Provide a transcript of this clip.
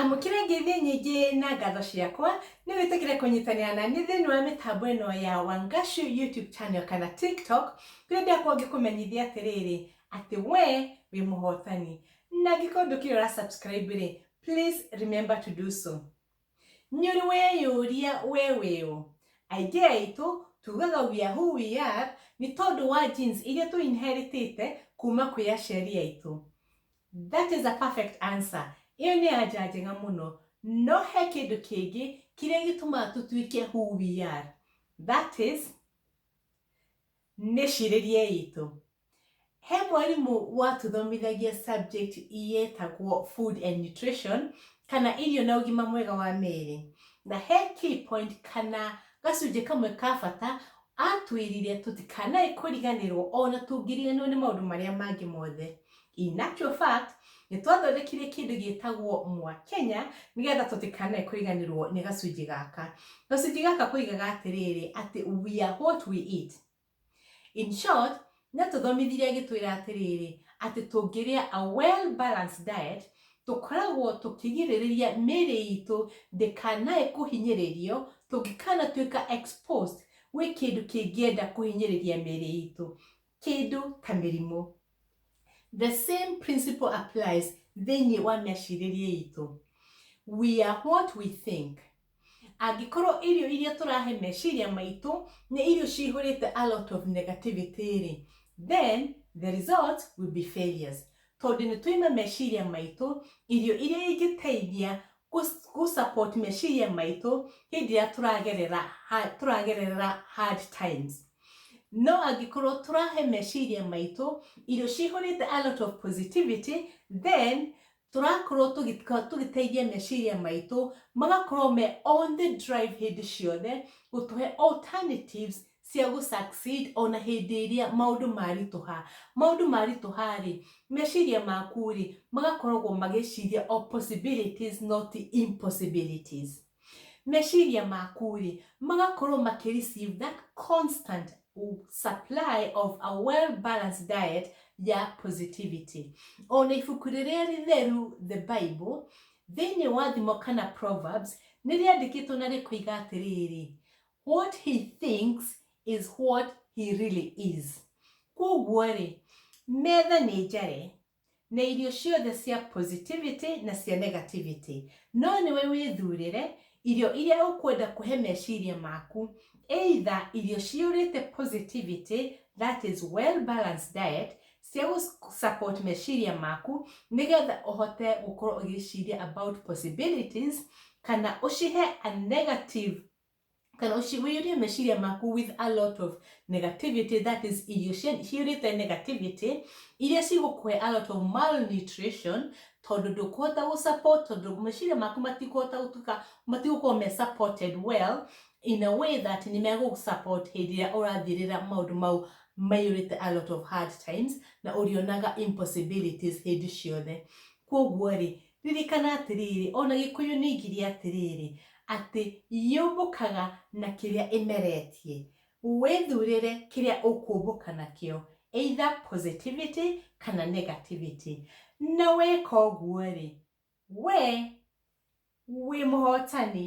amũkĩra ngeithi nyingĩ na ngatho ciakwa nĩ wĩtĩkĩre kũnyitanĩra na nĩ thĩinĩ wa mĩtambo ĩno ya wangashu youtube channel kana tiktok kũrĩa ndĩakwa ngĩkũmenyithia atĩrĩrĩ atĩ we wĩ mũhotani na angĩkorwo ndũkĩrĩ ũra subscribe rĩ Please remember to do so. Nyuri weyuria weweo. Aingĩ aitũ tugaga we are who we are nĩ tondũ wa genes iria tũ inheritĩte kuma kwĩ aciari aitũ. That is a perfect answer. Iyo nĩ anja njega mũno. No he kĩndũ kĩngĩ kĩrĩa gĩtũmaga tũtuĩke who we are. That is nĩ cirĩria itũ. He mwarimũ watũthomithagia subject yetagwo food and nutrition kana irio na ũgima mwega wa mĩĩrĩ. Na he key point kana gacunjĩ kamwe ka bata atwĩrire tũtikanae kũriganĩrwo ona tũngĩriganĩrwo nĩ maũndũ marĩa mangĩ mothe. In actual fact, nĩ twathondekire kĩndũ gĩtagwo Mwakenya nĩgetha tũtikanae kũriganĩrwo nĩ gacunjĩ gaka. Gacunjĩ gaka koigaga atĩrĩrĩ atĩ we are what we eat. In short, nĩatũthomithirie agĩtwĩra atĩrĩrĩ, atĩ tũngĩrĩa a well balanced diet, tũkoragwo tũkĩgirĩrĩria mĩĩrĩ itũ ndĩkanae kũhinyĩrĩrio tũngĩkanatuĩka exposed gwĩ kĩndũ kĩngĩenda kũhinyĩrĩria mĩĩrĩ itũ, kĩndũ ta mĩrimũ. The same principle applies thĩinĩ wa mecirĩrie itũ. We are what we think. Angĩkorwo irio iria tũrahe meciria maitũ nĩ irio cihũrĩte a lot of negativity rĩ, then the result will be failures. Tondũ nĩ tũima meciria maitũ irio iria ingĩteithia gu support meciria maitũ hĩndĩ ĩrĩa tũragerera tũragerera hard times no angĩkorwo tũrahe meciria maitũ irio cihũrĩte a lot of positivity then tũrakorwo tũgĩteithia meciria maitũ magakorwo me on the drive hĩndĩ ciothe gũtũhe alternatives cia gũ succeed ona hĩndĩ ĩrĩa maũndũ maritũha. Maũndũ maritũha rĩ, meciria maku rĩ, magakoragwo magĩciria o possibilities not impossibilities. Meciria maku rĩ, magakorwo makĩ receive that constant supply of a well balanced diet ya positivity. Ona ibuku rĩrĩa rĩtheru the Bible, thĩinĩ wa thimo kana Proverbs, nĩ rĩandĩkĩtwo na rĩkoiga atĩrĩrĩ, What he thinks is what he really is. Kwoguo-rĩ, metha nĩ njare na irio ciothe cia positivity na cia negativity. No nĩwe wĩthurĩre irio iria ũkwenda kũhe meciria maku. Either irio ciyũrĩte positivity, that is well balanced diet, cia gũ-support meciria maku nĩgetha ũhote gũkorwo ũgĩciria about possibilities, kana ũcihe a negative kana wĩyũrie meciria maku with a lot of negativity that is irio ciyũrĩte negativity iria cigũkũhe a lot of malnutrition tondũ ndũkũhota gũ support tondũ meciria maku matikũhota gũtuka matigũkorwo me supported well in a way that nĩ megũ support hĩndĩ ĩrĩa ũrathirĩra maũndũ mau maiyũrĩte a lot of hard times na ũrĩonaga impossibilities hĩndĩ ciothe kwoguo rĩ Ririkana atĩrĩrĩ, o na Gĩkũyũ nĩ oigire atĩrĩrĩ, atĩ yũmbũkaga na kĩrĩa ĩmeretie. Wĩthurĩre kĩrĩa ũkũmbũka nakĩo, either positivity kana negativity. Na weka ũguo-rĩ, we wĩ mũhotani.